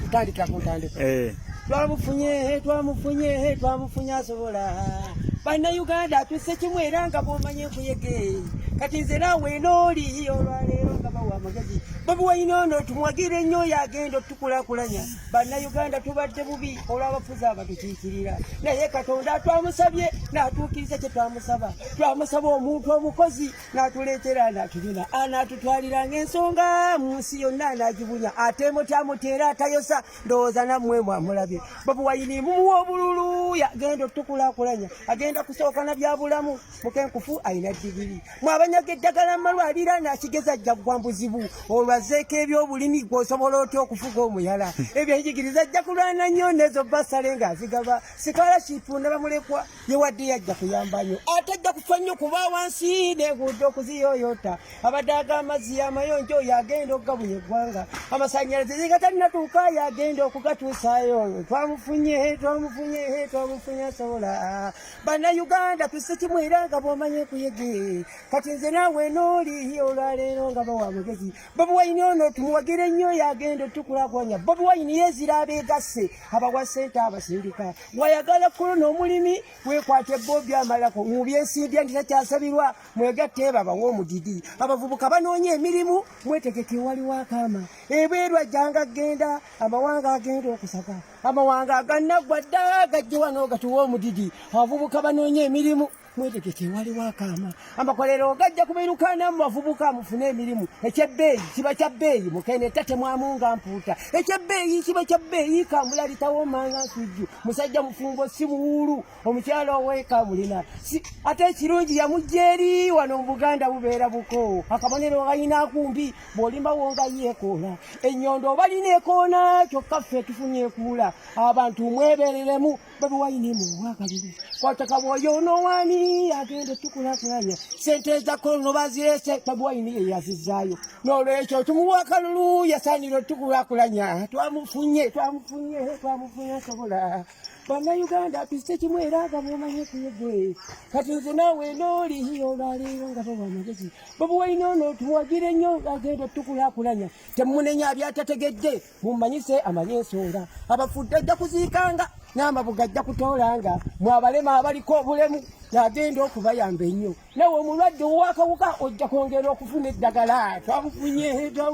kutandika kutandika eh twamufunye he twamufunye he twamufunye asobola bana Uganda tuse kimwe era nga bomanye kuyege kati nze nawe noli olwaleero nga bawa amagezi bobi wayina ono tumwagire nnyo oyo agenda otukulakulanya bana Uganda tubadde bubi olw'abafuzi abatukiikirira naye katonda twamusabye n'atuukiriza kye twamusaba twamusaba omuntu omukozi natuletera natubina anatutwaliranga ensonga mu nsi yonna anagibunya ate mutyamuteera atayosa ndowooza nammwe mwamulabye babuwayini mumuwa obululu yagenda otukulakulanya agenda kusooka na byabulamu mukenkufu alina digiri mwabanyaga eddagala mumalwalira nakigeza ajja kugwa mbuzibu olwazeeko ebyobulimi gwosobola otya okufuga omuyala ebyenjigiriza ajja kulwana nnyo nezo basale ngaazigaba sikalashipunda bamulekwa ye wadde yajja kuyamba nnyo ate ajja kufa nnyo kuba wansi neguudo okuziyoyota abadde aga amazzi yamayonjo oyo agenda okugabuya eggwanga amasanyalaze zigatalinatuuka yo agenda okugatuusayo oyo twamufunye twamufunye twamufunye asobola bannayuganda tuse kimu era nga bwomanye kuyege kati nze naawe nooli olwaleero nga bawa amagezi bobi wayini ono tumuwagire nnyo oyo agenda otukulakwanya bobi wayini yezira abeegasse abawa sente abasindika wayagala kulo n'omulimi wekwate bo byamalako mubyesimbye nti takyasabirwa mwegatte ebabawa omudidi abavubuka banoonya emirimu mwetegeke waliwo akaama ebweru ajjanga genda amawanga agenda okusaka amawanga aganaggwa dda gajjiwa n'ogatuwa omudidi abavubuka banoonya emirimu mwetegeke waliwo akaama amakolero gajja kubeerukaana mu bavubuka mufune emirimu ekyebbeeyi kiba kya bbeeyi mukene tate mwamunga mpuuta ekyebbeeyi kiba kya bbeeyi kamula litawo manga nsujju musajja mufumbo si muwuulu omukyalo oweeka mulina ate ekirungi yamujja eri wano mu buganda bubeera buko akabonero galina akumbi bw'olimba wonga yeekoola ennyondo obalina ekoona kyokka ffe tufunye ekuula abantu mwebereremu babi wayini mu wakalulu kwataka bwoyo onowani agenda tukulakulanya sente ezako no bazirese babi wayini ye yazizaayo nolwekyo tumuwa akalulu yasaanira otukulakulanya twamufunye twamufunye twamufunye asobola bana uganda tuzite kimu era aga mumanye kuyege kati nze nawe nooli olwaleero nga bawa amagezi babuwaina ono tuwagire nnyo agenda otukulakulanya temunenya abyatategedde mumanyise amanye ensonga abafudde ajja kuziikanga n'amabuga ajja kutoolanga mwabalema abaliko obulemu yagenda okubayamba ennyo nawe omulwadde owakawuka ojja kwongera okufuna eddagala twabufunye twabufunye